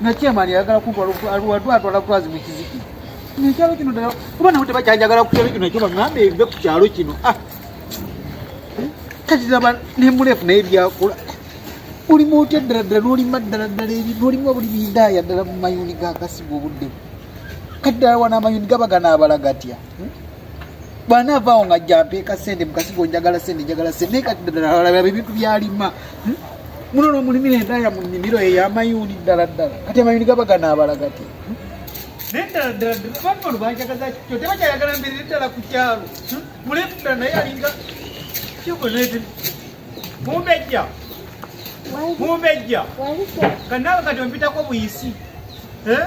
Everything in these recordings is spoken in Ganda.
nakyemani ayagala kuwalwadwala kwazi mukiziki nekyalo kino dala kuba nawe tebakyanjagala kukyalo kino ekyo bagamba ebive ku kyalo kino ah. kati laba nemulefu naye byakula olimu otya ddala ddala nolima ddala ddala eri nolimu buli bidaaya ddala mu mayuni gakasiga obuddemu kati ddala wana amayuni gaba ganaabala gatya hmm? bwanaavaawo nga jampeeka sente mukasigo njagala sente njagala sente naye kati ddalaalaba ebintu byalima hmm? muno nomulimira endaya mu nnimiro eyo yamayuuni ddala ddala kati amayuuni gaba ganaabala gati hmm? naye ddala ddala abantu bano banjagaza kyo tebakyayagala mbeerere ddala ku kyalo hmm? muleefu ddala naye alinga kyokonaete mumbejja mumbejja kanaawe kati ompitako buyisi eh?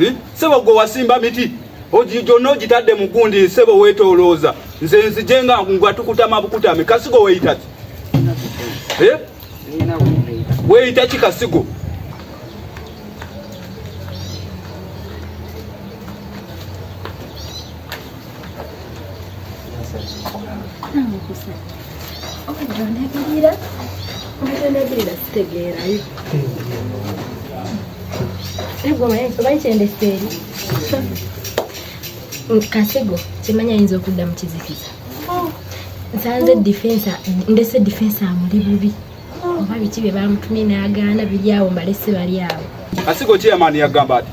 Eh? Sebo gwe wasimba miti gyonna ogitadde mu gundi sebo weetolooza nze nzije nga ngwa tukutama bukutame kasigo weeyita ki eh? weeyita ki kasigo Onagirira onagirira sitegeerayo omanyi kyendeseeri kasigo kimanya ayinza okudda mu kizikiza oh. nsanze defensa ndese defensa amuli bubi oba biki bye bamutumye n'agaana biri awo mbalese bali awo asigo chairman yagamba ati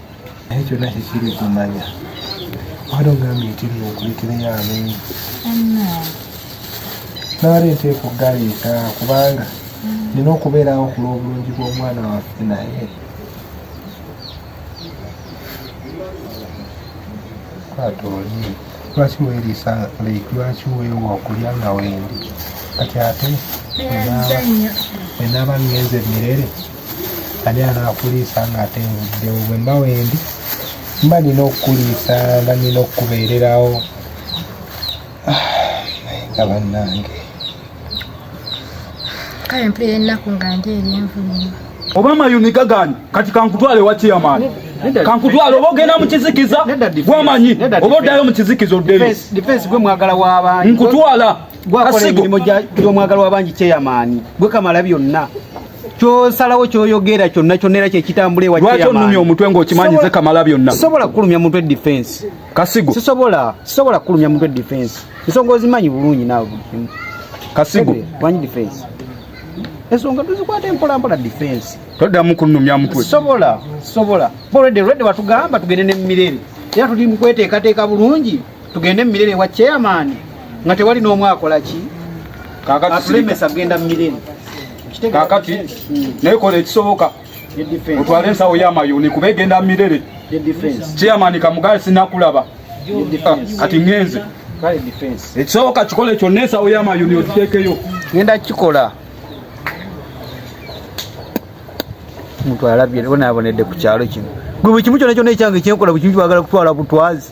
naye kyonna kikiri kumanya wali ogambye nti nno okulekereyo amenyi nabale nteeka okugaleeta kubanga nina okubeerawo ku lw'obulungi bw'omwana waffe naye kwata oli lwaki weriisa like lwaki weewa okulya nga wendi kati ate enaaba ngenze mirere ani anaakuliisa nga ate nvuddewo bwe mba wendi mba nina okukuliisa mba nina okukubeererawo ah, naye nga bannange kale mpulira ennaku nga ndi eri envunyo oba mayuni gagani kati kankutwale wa chairman kankutwale oba ogenda mu kizikiza gwamanyi oba oddayo mu kizikiza oddeyo defense gwe mwagala w'abantu nkutwala gwakola emirimu gy'omwagala w'abangi chairman gwe kamala byonna kyosalawo kyoyogera kyonna kyonna era kyekitambula ewalwaki onumya omutwe ngaokimanyi ze kamala byonna sisobola kukulumya mutwe defense kasigo sisobola sisobola kukulumya mutwe defense ensonga ozimanyi bulungi naawe buli kimu kasigo manyi defense ensonga tuzikwata empolampola defense toddamu kunumya mutwe sisobola sisobola bolwedde lwedde watugamba tugende ne mumirere era tuli mukweteekateeka bulungi tugende mu mirere wa chairman nga tewali n'omu akola ki atulemesa kugenda mu mirere kakati hmm. naye kola ekisoboka otwale ensawo y'amayuuni kuba egenda mu mirere chairman kamugaye sinakulaba ah, kati ngenze ekisoboka kikole kyonna ensawo y'amayuuni okiteekeyo ngenda kukikola omuntu alabye bonaabonedde ku kyalo kino gwe buli kimu kyona kyona ekyange kyenkola buli kimu kyagala kutwala butwazi